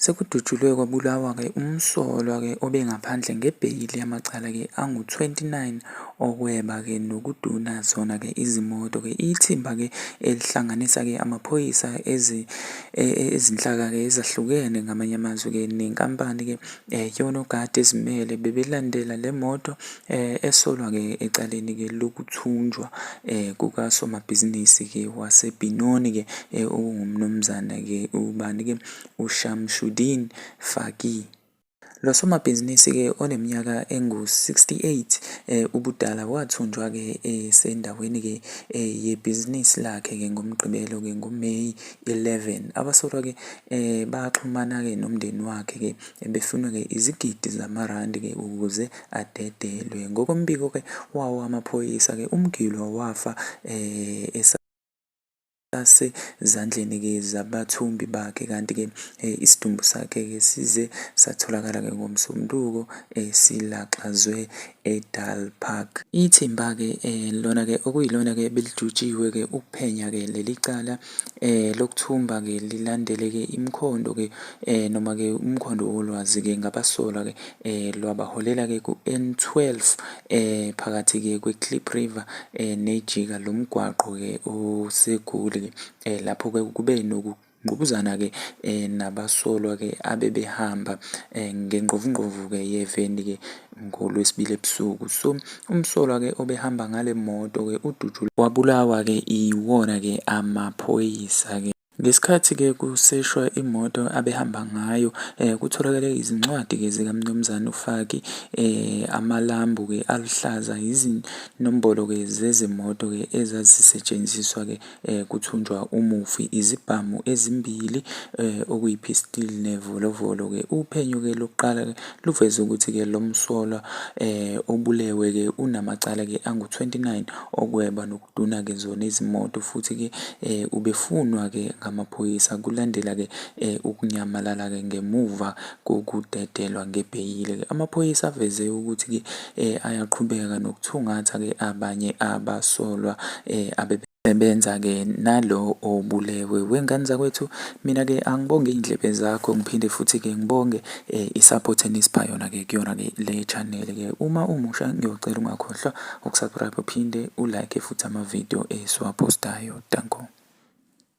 Sekudutshulwe kwabulawa-ke umsolwa-ke obengaphandle ngebheyili yamacala-ke angu-29 okweba-ke nokuduna zona-ke izimoto-ke. Ithimba-ke elihlanganisa-ke amaphoyisa e, e, ezinhlaka-ke ezahlukene ngamanye amazwi-ke nenkampani-ke Eh, yonogada ezimele bebelandela le moto eh, esolwa-ke ecaleni-ke lokuthunjwa eh, kukasomabhizinisi-ke wasebhinoni-ke eh, okungumnumzana-ke ubani-ke ushamshudin faki Lo somabhizinisi-ke oneminyaka engu-68 eh, ubudala wathunjwa-ke esendaweni-ke eh, yebhizinisi lakhe-ke ngoMgqibelo-ke ngoMeyi 11 abasolwa ke eh baxhumana ke nomndeni wakhe ke ebefunwa ke izigidi zamarandi ke ukuze adedelwe ngokombiko ke wawo amaphoyisa ke umgilwa wafa eh sasezandleni ke zabathumbi bakhe kanti ke eh, isidumbu sakhe ke size satholakala ke ngomsombuluko esilaxazwe eh, eDal Park. Ithimba-ke lona-ke okuyilona-ke ebelijutshiwe-ke ukuphenya-ke leli cala lokuthumba-ke lilandele-ke imikhondo-ke noma-ke umkhondo wolwazi-ke ngabasolwa-ke lwabaholela-ke ku-N12 phakathi-ke kweKlip River neJika lomgwaqo-ke oseGoli lapho-ke kube noku Ngqubuzana-ke nabasolwa-ke abebehamba ngengqovungqovu-ke yeveni-ke ngoLwesibili ebusuku. So umsolwa-ke obehamba ngale moto-ke udutshulwe wabulawa-ke iwona-ke amaphoyisa-ke. Ngesikhathi-ke kuseshwa imoto abehamba ngayo kutholakale izincwadi-ke zikaMnumzane uFaki, amalambu-ke aluhlaza, izinombolo-ke zezimoto-ke ezazisetshenziswa-ke. eh, kuthunjwa umufi izibhamu ezimbili eh, okuyi-pistol nevolovolo-ke. Uphenyo-ke lokuqala-ke luveze ukuthi-ke lo msolwa eh, obulewe-ke unamacala-ke angu-29 okweba nokuduna-ke zona izimoto futhi-ke eh, ubefunwa-ke ngamaphoyisa kulandela-ke eh, ukunyamalala-ke ngemuva kokudedelwa ngebheyili-ke. Amaphoyisa aveze ukuthi-ke ayaqhubeka nokuthungatha-ke abanye abasolwa abe sebenza-ke nalo obulewe. Wengane zakwethu mina-ke angibonge iy'ndlebe zakho ngiphinde futhi-ke ngibonge um i-support enisipha yona-ke kuyona-ke le channel-ke. Uma umusha ngiyocela ungakhohlwa uku-subscribe uphinde u-like futhi ama-video esiwaphostayo. Danko.